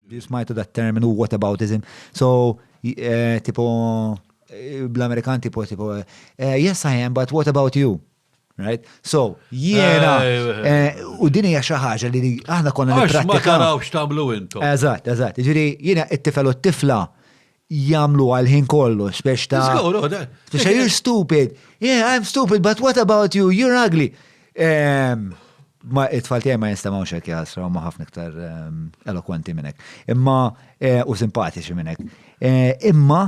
Li smajtu dat terminu whataboutism. So, eh, tipo, eh, bl-Amerikan tipo, tipo, eh, yes I am, but what about you? Right? So, jiena, eh, u din hija xi ħaġa li aħna konna nipprattikaw. Ma tarawx tagħmlu intom. Eżatt, eżatt. Ġifieri jiena it-tifel u t-tifla jamlu għal-ħin kollu, spex ta' spex ta' you're stupid, yeah I'm stupid, but what about you, you're ugly. Ehm, ma it-tfal tiegħi ma jinstamaw xek jasra, ma ħafna iktar ehm, elokwenti minnek. Imma eh, u simpatiċi minnek. Eh, imma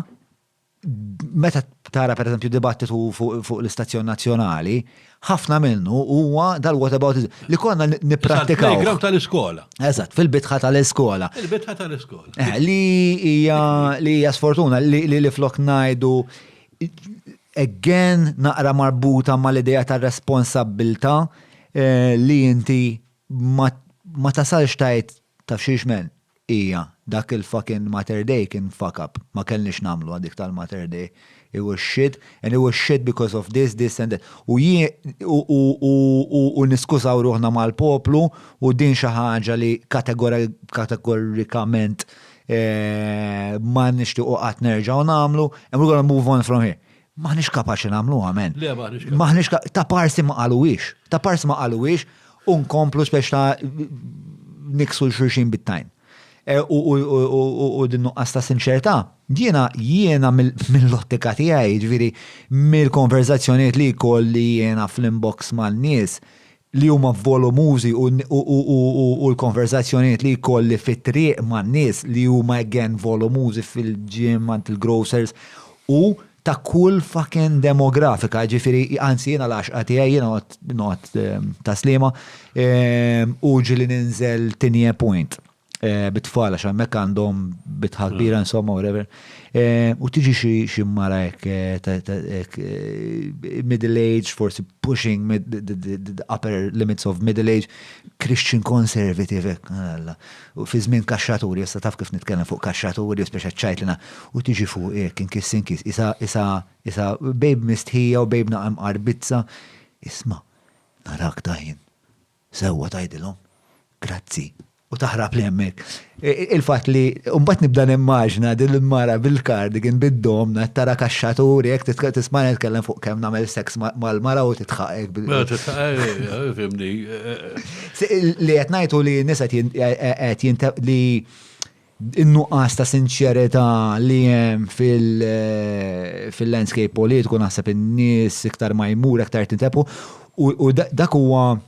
meta tara per eżempju dibattitu fuq l-istazzjon nazzjonali, ħafna minnu huwa dal-whataboutism li konna nipprattikaw. Il-playground tal-iskola. Eżatt, fil-bitħa tal-iskola. Il-bitħa tal-iskola. Eh, li hija li hija sfortuna li li flok ngħidu again naqra marbuta mal-idea ta' responsabilta eh, li inti ma tasalx tajt taf xiex men. Hija, Dak il-fuckin' Mater Dei kien fuck up, ma kellniex nagħmluha dik tal-Mater Dei. It was shit and it was shit because of this, this and that. U jien, u niskużaw ruħna mal-poplu u din xi ħaġa li kategorikament ma nixtiequ qatt nerġgħu nagħmlu and we're gonna move on from here. M'aħniex kapaċi nagħmluha, men. Le, m'aħniex. M'aħniex ta' parsi ma qaluwiex. Ta' parsi ma qaluwiex u nkomplu spex ta' niksu l-xurxin bit-tajn. E, u din nuqqas ta' sinċerta, jiena jiena mill-ottika tiegħi, ġifieri mill-konverzazzjonijiet li kolli jiena fl-inbox mal-nies, li huma volumużi u l-konverżazzjonijiet li jkolli fit-triq man-nies li huma again volumużi fil-gym, għand il-grocers u ta' kull fucking demografika, jiġifieri anzi jiena l-għaxqa tiegħi jiena noqgħod ta' Sliema u ġieli ninżel Tinie Point. Eh, bit-tfal, għax hemmhekk għandhom bitħa mm. kbira insomma whatever. Eh, u tiġi xi mara hekk eh, middle age, forsi pushing the upper limits of middle age, Christian conservative hekk. Ah, u fi żmien kaxxaturi, issa taf kif nitkellem fuq kaxxaturi, speċa ċajtlina, u tiġi fuq hekk inkis inkis, isa isa isa bejb mistħija u bejb naqam qarbizza. Isma, narak daħin. Sewwa tgħidilhom grazzi. U taħrabli hemmhekk. Il-fatt li u mbagħad nibda nimmaġina din il-mara bil-cardigan bid-domna qed tara kaxxaturi hekk titk tismagħni nitkellem fuq kemm nagħmel sex mal-mara u titħaq hekk bil Mela titħaq eh, eh, eh, fimni. Se- Li qed ngħid hu li n-nisa qed jin- qed jinte li In-nuqqas ta' sinċerità li hemm fil-landscape politiku naħseb in-nies iktar ma jmur aktar tintebħu u dak huwa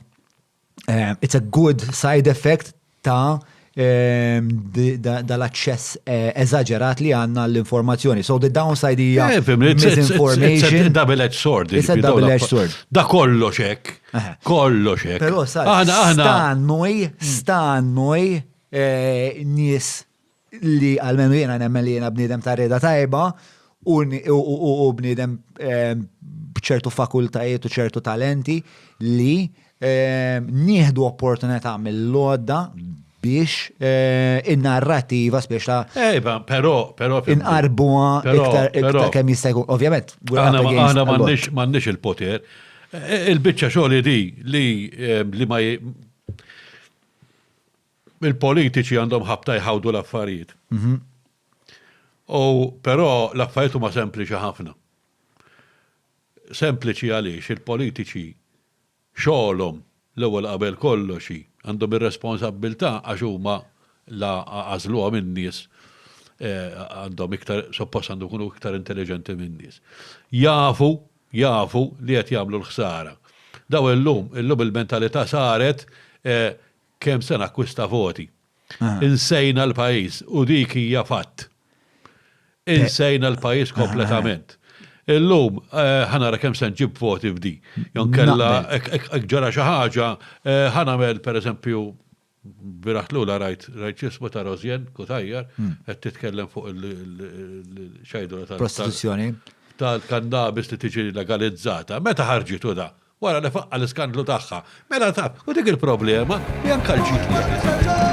it's a good side effect ta' dal-aċċess eżaġerat li għandna għall-informazzjoni. So the downside hija misinformation. It's a double-edged sword. It's a double-edged sword. Da kollox hekk. Kollox hekk. Però sa' stannuj, stannuj nies li għalmenu jiena nemmen li jiena bniedem ta' rieda tajba u bniedem b'ċertu fakultajiet u ċertu talenti li nieħdu opportunità mill-lodda biex in-narrativa spiex ta' Ejba, però, però. Inqarbuha iktar kemm jista' jkun. Ovvjament, aħna m'għandniex il-poter. Il-biċċa xogħol di li ma Il-politiċi għandhom ħabta jħawdu l-affarijiet. U però l-affarijiet huma sempliċi ħafna. Sempliċi għaliex il-politiċi xogħolhom l-ewwel qabel kollox hi għandhom ir-responsabbiltà għax huma la għażluha min-nies eh, għandhom iktar suppost għandhom ikunu iktar intelliġenti min-nies. Jafu jafu li qed jagħmlu l-ħsara. Daw illum, illum il-mentalità saret kemm se nakkwista voti. Insejna l-pajjiż u dik hija fatt. Insejna l-pajjiż kompletament. Illum ħa nara kemm se nġib voti f'di. Jew inkella jekk ġara xi ħaġa ħa nagħmel pereżempju Bieraħ lula rajt ġismu ta' Rosianne Cutajar qed titkellem fuq il-xajduna tal-. Prostituzzjoni. Tal-kannabis li tiġi legalizzata. Meta ħarġitu da? Wara li faqqa' l-iskandlu tagħha. Mela taf, u dik il-problema li anke l-ġid li jagħti.